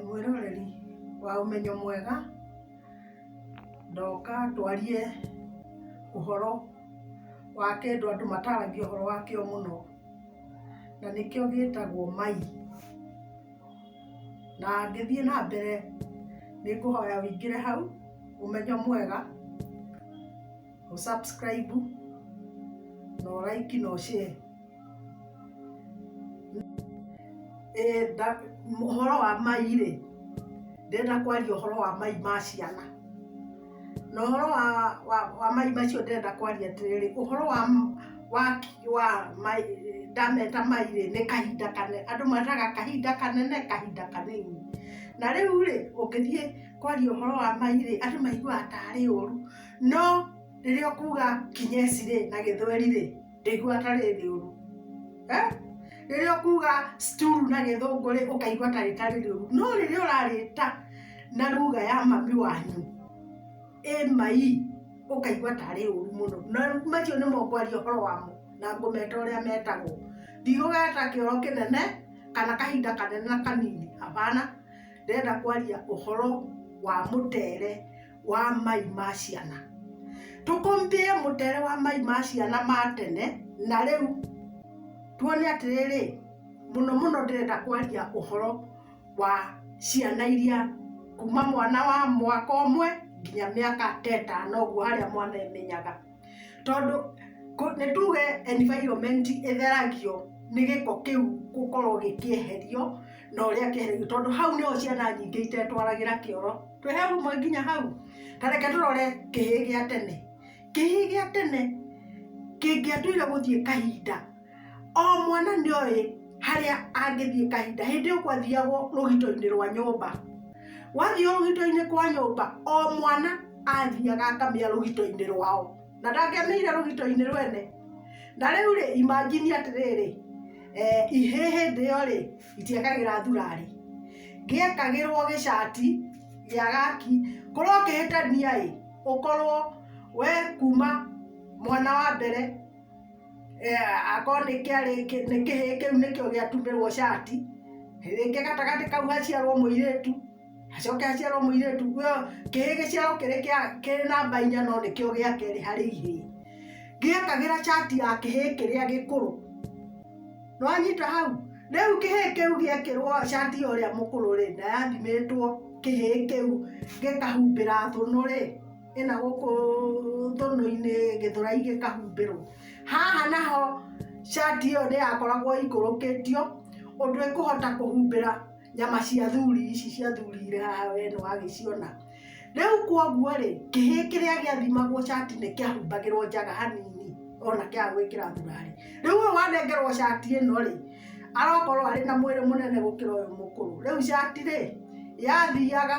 Mwĩroreri wa ũmenyo mwega, ndoka twarie ũhoro wa kĩndũ andũ mataragia ũhoro wakĩo mũno, na nĩkĩo gĩtagwo mai. Na ngĩthiĩ na mbere nĩ ngũhoya ũingĩre hau Ũmenyo Mwega, ũ subscribe, na ũ like na ũ share. Ũhoro wa mai rĩ, ndĩrenda kwaria ũhoro wa mai ma ciana. Na ũhoro wa mai macio ndĩrenda kwaria atĩrĩrĩ, ũhoro wa waki wa mai, ndameta mai rĩ, nĩ kahinda kanene, andũ metaga kahinda kanene, kahinda kanini. Na rĩu rĩ, ũngĩthiĩ kwaria ũhoro wa mai rĩ, andũ maiguaga tarĩ ũru. No rĩrĩa ũkuga kinyesi rĩ, na gĩthweri rĩ. ndaigua atarĩ rĩũru Eh? rĩrĩa ũkuga stool na gĩthũngũ rĩ ũkaigua ta rĩtarĩ rĩũru no rĩrĩa ũrarĩta na ruga ya mami wanyu ĩmai ũkaigua tarĩ ũru mũno na macio nĩ mokwaria ũhoro wamo na ngũmeta ũrĩa metagwo ndigũgeta kĩoro kĩnene kana kahinda kanene na kanini hapana ndĩrenda kwaria ũhoro wa mũtere wa mai ma ciana tũkombie mũtere wa mai ma ciana ma tene na rĩu tuone atĩrĩrĩ mũno mũno ndĩrenda kwaria ũhoro wa ciana iria kuma mwana wa mwaka ũmwe nginya mĩaka ta ĩtano ũguo harĩa mwana emenyaga. tondũ nĩ tuge environment ĩtheragio nĩ gĩko kĩu gũkorwo gĩkĩeherio na ũrĩa kĩehereirwo tondũ hau nĩho ciana nyingĩ itetwaragĩra kĩoro twĩhe ũmwe nginya hau ta reke tũrore kĩhĩĩ gĩa tene kĩhĩĩ gĩa tene kĩngĩatuire gũthiĩ kahinda O mwana nĩ oĩ harĩa angĩthiĩ kahinda hĩndĩ ĩyo kwathiagwo rũgito-inĩ rwa nyũmba wathiĩ rũgito-inĩ kwa nyũmba o mwana athiaga akamĩa rũgito-inĩ rwao na ndangĩamĩire rũgito-inĩ rwene na rĩu rĩ imagine atĩrĩrĩ eh, ihĩ hĩndĩ ĩyo rĩ itiekagĩra thurari gĩekagĩrwo gĩcati gĩa gaki korwo ũkĩhĩtania ĩ ũkorwo we kuma mwana wa mbere akorwo nĩ kĩarĩ nĩ kĩhĩĩ kĩu nĩkĩo gĩatumĩrwo cati, rĩngĩ gatagatĩ kau haciarwo mũirĩtu, hacoke haciarwo mũirĩtu, kĩhĩĩ gĩciarwo kĩrĩ kĩa kĩrĩ namba inya no nĩkĩo gĩa kerĩ harĩ igĩrĩ, gĩekagĩra cati ya kĩhĩĩ kĩrĩa gĩkũrũ, nĩwanyita hau? rĩu kĩhĩĩ kĩu gĩekĩrwo cati ya ũrĩa mũkũrũ rĩ, na yathimĩtwo kĩhĩĩ kĩu gĩkahumbĩra thũnũ rĩ. ĩna gũkũ thũnũ-inĩ gĩthũrai gĩkahumbĩrwo haha naho cati ĩyo ndĩrakoragwo ĩikũrũkĩtio ũndũ ĩkũhota kũhumbĩra nyama cia thuri ici cia thuri irĩ haha we nĩ wagĩciona, rĩu kwoguo rĩ kĩhĩĩ kĩrĩa gĩathimagwo cati nĩ kĩahumbagĩrwo njaga hanini ona kĩaga gwĩkĩra thurari, rĩu ũyũ wanengerwo cati ĩno rĩ arakorwo arĩ na mwĩrĩ mũnene gũkĩra ũyũ mũkũrũ, rĩu cati rĩ yathiaga...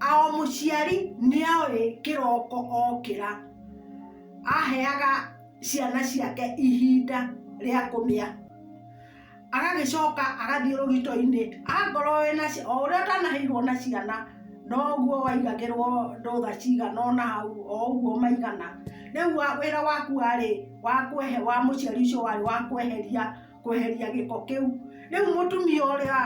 A O mũciari nĩoĩ kĩroko okĩra aheaga ciana ciake ihinda rĩa kũmĩa, agagĩcoka agathiĩ rũgitoinĩ akorwo wĩna ciana o ũrĩa ũtanaheirwo na ciana noguo waigagĩrwo ndũtha cigana ũna hau o ũguo maigana, rĩu wĩra waku warĩ wa mũciari ũcio warĩ wa kweheria. kweheria gĩko kĩu. Rĩu mũtumia ũrĩa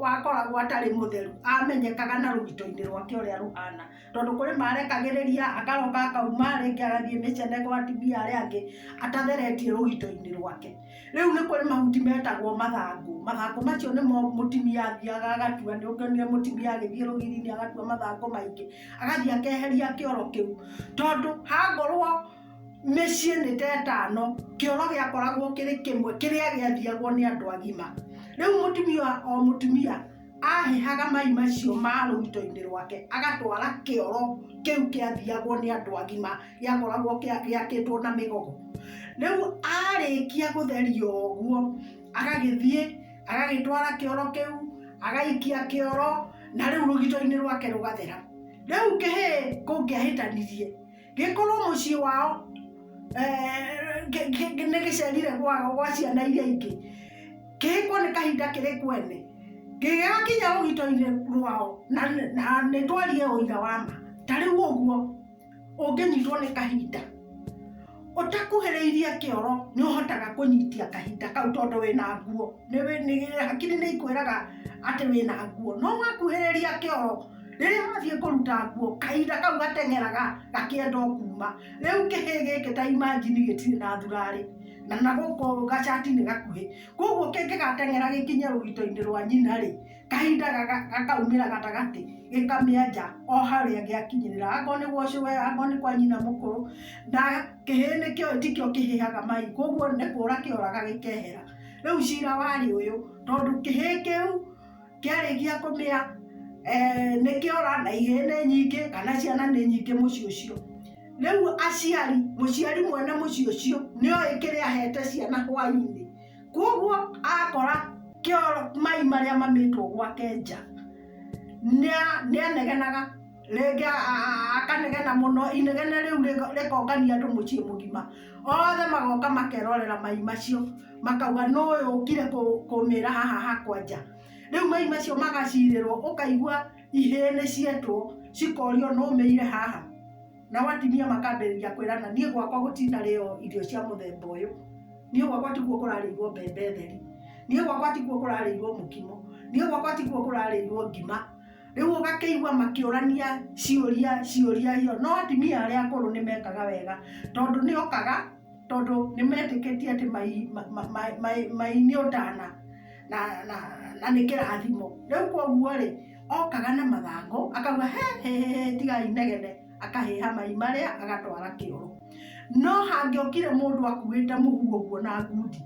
wakoragwo atarĩ mũtheru amenyekaga na rũgito-inĩ rwake ũrĩa rũhana, tondũ kũrĩ marekagĩrĩria akaroka akauma rĩngĩ agathiĩ mĩcene gwa atumia arĩa angĩ atatheretie rũgito-inĩ rwake. Rĩu nĩ kũrĩ mahuti metagwo mathangũ, mathangũ macio nĩmo mũtumia athiaga agatua, nĩ ũkĩonire mũtumia agĩthiĩ rũgiri-inĩ agatua mathangũ maingĩ, agathiĩ akeheria kĩoro kĩu, tondũ hangorwo... mĩciĩ nĩ ta ĩtano kĩoro gĩakoragwo kĩrĩ kĩmwe kĩrĩa gĩathiagwo nĩ andũ agima rĩu mũtumia o mũtumia ahehaga mai macio ma rũito-inĩ rwake agatwara kĩoro kĩu kĩathiagwo nĩ andũ agima gĩakoragwo gĩakĩtwo na mĩgogo rĩu arĩkia gũtheria ũguo agagĩthiĩ agagĩtwara kĩoro kĩu agaikia kĩoro na rĩu rũgito-inĩ rwake rũgathera rĩu kĩhĩ kũngĩahĩtanirie gĩkorwo mũciĩ wao eh, gĩ- gĩ- gĩ- nĩ gĩcerire gwao gwa ciana iria ingĩ kĩhĩkwo nĩ kahinda kĩrĩ kwene gĩgakinya rũgito-inĩ rwao na na nĩ twarie ũira wa ma ta rĩu ũguo ũngĩnyitwo nĩ kahinda ũtakuhĩrĩirie kĩoro nĩ ũhotaga kũnyitia kahinda kau tondũ wĩna nguo Nĩ- nĩ- hakiri nĩ ikwĩraga atĩ wĩna nguo no wakuhĩrĩria kĩoro rĩrĩa wathiĩ kũruta nguo kahinda kau gateng'eraga gakĩenda o kuma rĩu kĩhĩ gĩkĩ ta imajini gĩtirĩ na thurarĩ na na gũkũ gacati nĩ gakuhĩ koguo kĩngĩgateng'era gĩkinye rũgito-inĩ rwa nyina rĩ kahinda gaga- gakaumĩra gatagatĩ gĩkamĩenja o harĩa gĩakinyĩrĩra akorwo nĩ gwa ũcũwe akorwo nĩ kwa nyina mũkũrũ na kĩhĩ nĩkĩo tikĩo kĩhĩhaga mai koguo nĩ kũra kĩoraga gĩkehera rĩu cira warĩ ũyũ tondũ kĩhĩ kĩu Kĩarĩkia kũmĩa eh, nĩ kĩora na ihĩĩ nĩ nyingĩ kana ciana nĩ nyingĩ mũciĩ ũcio rĩu aciari mũciari mwene mũciĩ ũcio nĩ oĩ kĩrĩa ahete ciana hwainĩ kwoguo akora kĩoro mai marĩa mamĩtwo gwake nja nĩa- nĩanegenaga rĩngĩ akanegena mũno inegene rĩu rĩkongania andũ mũciĩ mũgima othe magoka makerorera mai macio makauga nũ ũyũ ũkire kũmĩra haha hakwa nja, rĩu mai macio magacirĩrwo ũkaigua ihĩĩ nĩ cietwo cikorio nũ ũmĩire haha nao atumia makambĩrĩria kwĩrana niĩ gwakwa gũtinarĩo irio cia mũthemba ũyũ, niĩ gwakwa tiguo kũrarĩirwo mbembe theri, niĩ gwakwa tiguo kũrarĩirwo mũkimo, niĩ gwakwa tiguo kũrarĩirwo ngima. Rĩu ũgakĩigua makĩũrania ciũria ciũria iyo no atumia arĩa akũrũ nĩ mekaga wega tondũ nĩ okaga tondũ nĩ metĩkĩtie atĩ mai ma ma ma mai mai nĩ ũtana na na na nĩ kĩrathimo. Rĩu kwoguo rĩ okaga na mathangũ akauga he hĩ hĩ tigai inegene akahĩha mai marĩa agatwara kĩoro. No hangĩokire mũndũ akuĩte mũhu ũguo na ngundi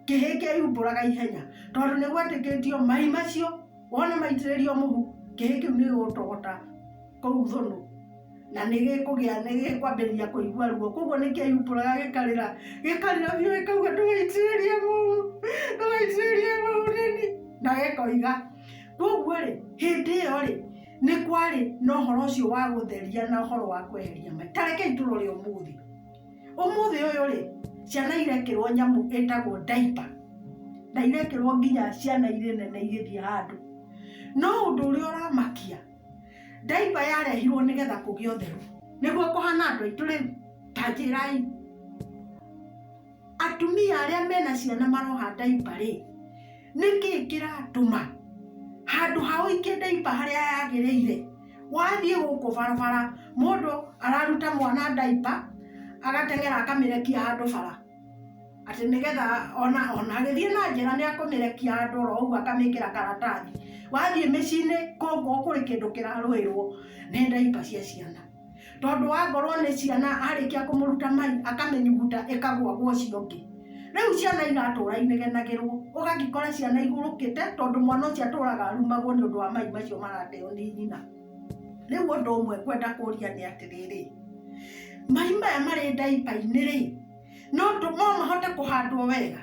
kĩhĩ kĩaiumbũraga ihenya tondũ nĩ gwetĩkĩtio mai macio... Wona maitĩrĩrio mũhu, kĩhĩ kĩu nĩ gĩgũtũgũta kũu thũnũ na nĩ gĩkũgĩa nĩ gĩkwambĩrĩria kũigua ruo. Kwoguo nĩ kĩeyumbũraga gĩkarĩra, gĩkarĩra biũ gĩkauga ndũgaitĩrĩrie mũhu, ndũgaitĩrĩrie mũhu nĩni, na gĩkoiga. Kwoguo rĩ, hĩndĩ ĩyo rĩ, nĩ kwarĩ na ũhoro ũcio wa gũtheria na ũhoro wa kweheria mai. Ta rekei tũrore ũmũthĩ. Ũmũthĩ ũyũ rĩ, ciana irekĩrwo nyamũ ĩtagwo ndaipa, na irekĩrwo nginya ciana irĩ nene igĩthiĩ handũ. No ũndũ ũrĩa ũramakia, ndaipa yarehirwo nĩgetha kũgĩe ũtheru. Nĩguo kũhana andũ aitũ rĩu? Ta njĩrai. Atumia arĩa mena ciana maroha ndaipa rĩ. Nĩ kĩĩ kĩratũma handũ ha ũikie ndaipa harĩa yagĩrĩire, wathiĩ gũkũ barabara mũndũ araruta mwana ndaipa agateng'era akamĩrekia handũ bara, atĩ nĩgetha ona ona agĩthiĩ na njĩra nĩ akũmĩrekia handũ oro ũguo akamĩkĩra karatathi. Wathiĩ mĩciĩ-inĩ kũngũ kũrĩ kĩndũ kĩrarũĩrwo nĩ ndaipa cia ciana. tondũ wangorwo nĩ ciana arĩkia kũmũruta mai akamĩnyuguta ĩkagwa gwa ũcio ũngĩ rĩu ciana iratũra inegenagĩrwo ũgagĩkora ciana igũrũkĩte tondũ mwana ũcio atũraga arumagwo nĩ ũndũ wa mai macio marateo nĩ nyina rĩu ũndũ ũmwe ngwenda kũria nĩ atĩrĩrĩ mai maya marĩ ndaipa-inĩ rĩ no mahote kũhandwo wega?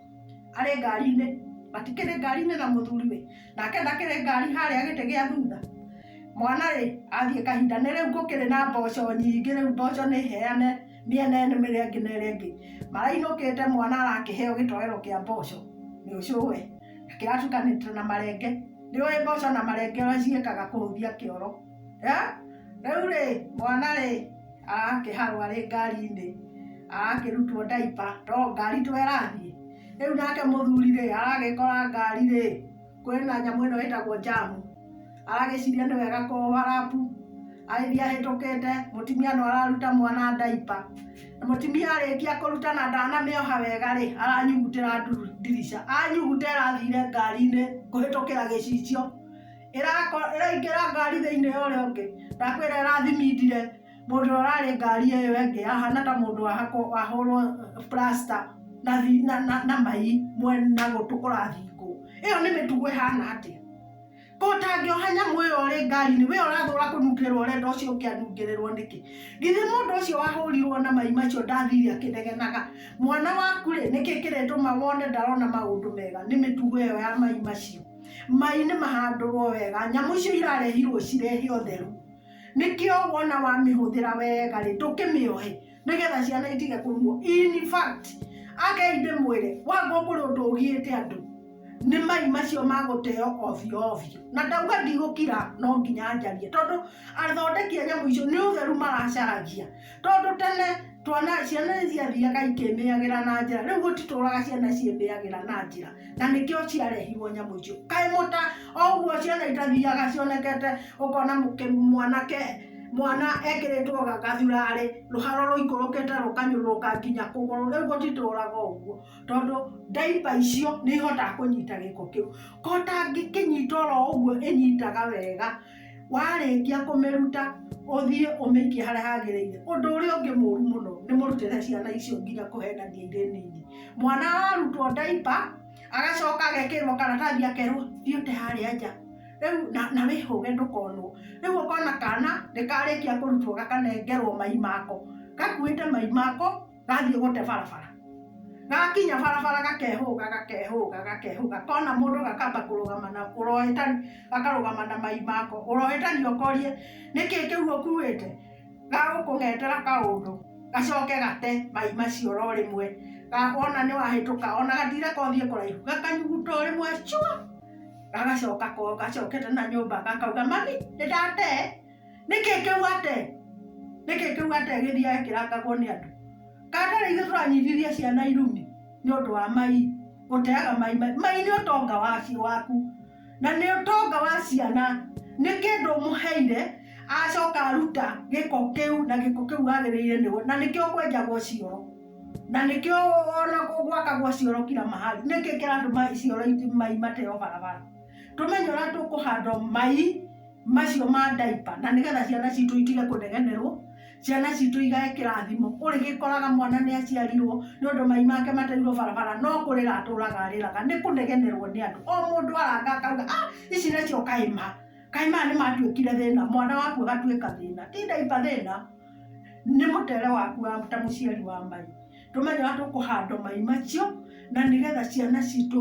arĩ ngari-inĩ matikĩrĩ ngari-inĩ na mũthuriwe nake ndakĩrĩ ngari harĩa gĩtĩ gĩa thutha mwana rĩ athiĩ kahinda nĩ rĩu gũkĩrĩ na mboco nyingĩ rĩu mboco nĩ heane mĩena ĩno ĩrĩa ĩngĩ na ĩrĩa ĩngĩ marainũkĩte mwana arakĩheo gĩtoero kĩa mboco nĩ ũcũwe na kĩratukanĩte na marenge nĩũĩ mboco na marenge ũrĩa ciĩkaga kũhũthia kĩoro. Rĩu rĩ mwana rĩ arakĩharwo arĩ ngari-inĩ, arakĩrutwo ndaipa to ngari to ĩrathiĩ, rĩu nake mũthuri rĩ aragĩkora ngari rĩ kwĩna nyamũ ĩno ĩtagwo njamu, aragĩciria nĩ wega kũ overlap agĩthiĩ ahĩtũkĩte, mũtumia no araruta mwana ndaipa, na mũtumia arĩkia kũruta na ndanamĩoha wega rĩ aranyugutĩra ndirica, anyuguta ĩrathire ngari-inĩ kũhĩtũkĩra gĩcicio. ĩraingĩra ngari thĩinĩ ya ũrĩa ũngĩ ndakwĩra ĩrathimindire mũndũ ũrĩa ũrarĩ ngari ĩyo ĩngĩ ahana ta mũndũ wahũrwo plaster na thi- na- na- na mai mwe- na gũtũ kũrathingwo ĩyo nĩ mĩtugo ĩhana atĩa ko ũtangĩoha nyamũ ĩyo ũrĩ ngari-inĩ we ũrathũra kũnungĩrĩrwo ũrenda ũcio ũngĩ anungĩrĩrwo nĩkĩ githĩ mũndũ ũcio wahũrirwo na mai macio ndathire akĩnegenaga mwana waku rĩ nĩkĩ kĩrĩtũma wone ndarona maũndũ mega nĩ mĩtugo ĩyo ya mai macio Mai nĩ mahandũrwo wega, nyamũ icio irarehirwo cirehe ũtheru. Nĩkĩo wona wamĩhũthĩra wega rĩ, ndũkĩmĩohe nĩgetha ciana itige kũrumwo. In fact, akei ndĩmwĩre, wanga ũkore ũndũ ũgiĩte andũ, nĩ mai macio ma gũteo ovyo ovyo. Na ndauga ndigũkira, no nginya njarie tondũ athondeki a nyamũ icio nĩ ũtheru maracaragia. Tondũ tene tuona ciana nĩ ciathiaga ikĩmĩagĩra na njĩra rĩu gũtitũraga ciana ciĩmĩagĩra na njĩra na nĩkĩo ciarehirwo nyamũ icio kaĩ mũta oguo ciana itathiaga cionekete ũkona mwanake mwana ekĩrĩtwo gathurarĩ rũhara rũikũrũkĩte rũkanyũrũrũka nginya kũgũrũ rĩu gũtitũraga ũguo tondũ diaper icio nĩ ihotaga kũnyita gĩko kĩu kota ĩngĩkĩnyita oro ũguo ĩnyitaga wega. warĩkia kũmĩruta ũthiĩ ũmĩikie harĩa hagĩrĩire. Ũndũ ũrĩa ũngĩ mũru mũno nĩ mũrutĩre ciana icio nginya kũhenania irĩ nini. Mwana ararutwo diaper agacoka agekĩrĩrwo karatathi akerwo thiĩ ũte harĩa nja rĩu na wĩhũge ndũkonwo. Rĩu ũkona kana nĩ karĩkia kũrutwo gakanengerwo mai mako gakuĩte mai mako. gathiĩ gũte barabara gagakinya barabara gakehũga gakehũga gakehũga kona mũndũ gakamba kũrũgama na ũrohĩtani gakarũgama na mai mako ũrohĩtani ũkorie nĩkĩ kĩu ũkuĩte gagũkũng'etera kaũndũ gacoke gate mai macio oro rĩmwe wona nĩ wahĩtũka ona gatire kothiĩ kũraihu gakanyuguta o rĩmwe cua gagacoka ko gacokete na nyũmba gakauga mami nĩ ndate. nĩkĩ kĩu ate nĩkĩ kĩu ate gĩthiĩ akĩrangagwo nĩ andũ kana tarĩ ithuĩ tũranyitithia ciana irumi nĩ ũndũ wa mai gũteaga mai mai nĩ ũtonga wacio waku na nĩ ũtonga wa ciana nĩ kĩndũ mũheire acoka aruta gĩko kĩu na gĩko kĩu wagĩrĩire nĩ na nĩkĩo kwenjagwo cioro na nĩkĩo ona gwakagwo cioro kira mahali nĩkĩ kĩratũma cioro mai mateo barabara tũmenye ũrĩa tũkũhanda mai macio ma ndaipa na nĩgetha ciana citũ itige kũnegenerwo ciana citũ igae kĩrathimo ũrĩgĩkoraga mwana nĩ aciarirwo nĩ ũndũ mai make mateirwo barabara no kũrĩra atũraga arĩraga nĩ kũnegenerwo nĩ andũ o mũndũ aranga akauga ah ici nacio kaĩ ma kaĩ maya nĩ matuĩkire thĩna mwana waku agatuĩka thĩna ti ndaipa thĩna nĩ mũtũrĩre waku ta mũciari wa mai. Tũmenye ũrĩa tũkũhanda mai macio, na nĩgetha ciana citũ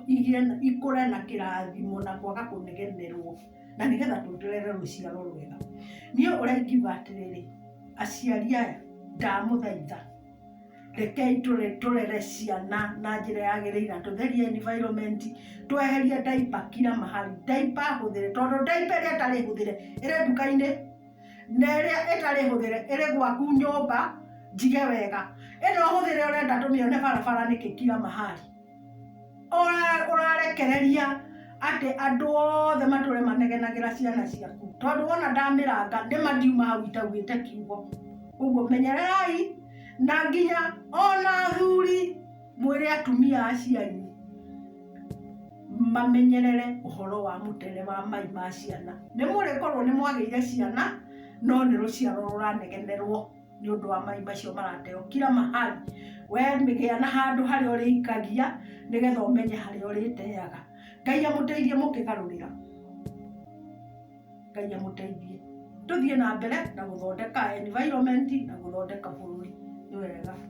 igĩe na ikũre na kĩrathimo na kwaga kũnegenerwo, na nĩgetha tũrehe rũciaro rwega. Niĩ ũrĩa ingiuga atĩrĩrĩ, aciari aya ndamũthaitha, rekei tũrere ciana na njĩra yagĩrĩire, na tũtherie environment, tweherie diaper kila mahali. Diaper hũthĩre, tondũ diaper ĩrĩa ĩtarĩ hũthĩre, ĩrĩ nduka-inĩ. na ĩrĩa ĩtarĩ hũthĩre ĩrĩ gwaku nyũmba njige wega ĩno hũthĩre ũrenda tũmĩone barabara nĩkĩ kila mahali Ũra- ũrarekereria atĩ andũ othe matũre manegenagĩra ciana ciaku tondũ wona ndamĩranga nĩ mandiuma hau itaugĩte kiugo ũguo menyererai na nginya ona athuri Mwĩre atumia a cianyu mamenyerere ũhoro wa mũtere wa mai ma ciana. Nĩ mũrĩkorwo nĩ mwagĩire ciana, no nĩ rũciaro rũranegenerwo nĩ ũndũ wa mai macio marateo kira mahali. We gĩa na handũ harĩa ũrĩikagia, nĩgetha ũmenye harĩa ũrĩteaga. Ngai amũteithie mũkĩgarũrĩra. Ngai amũteithie. Tũthiĩ na mbere na gũthondeka environment na gũthondeka bũrũri. Nĩ wega.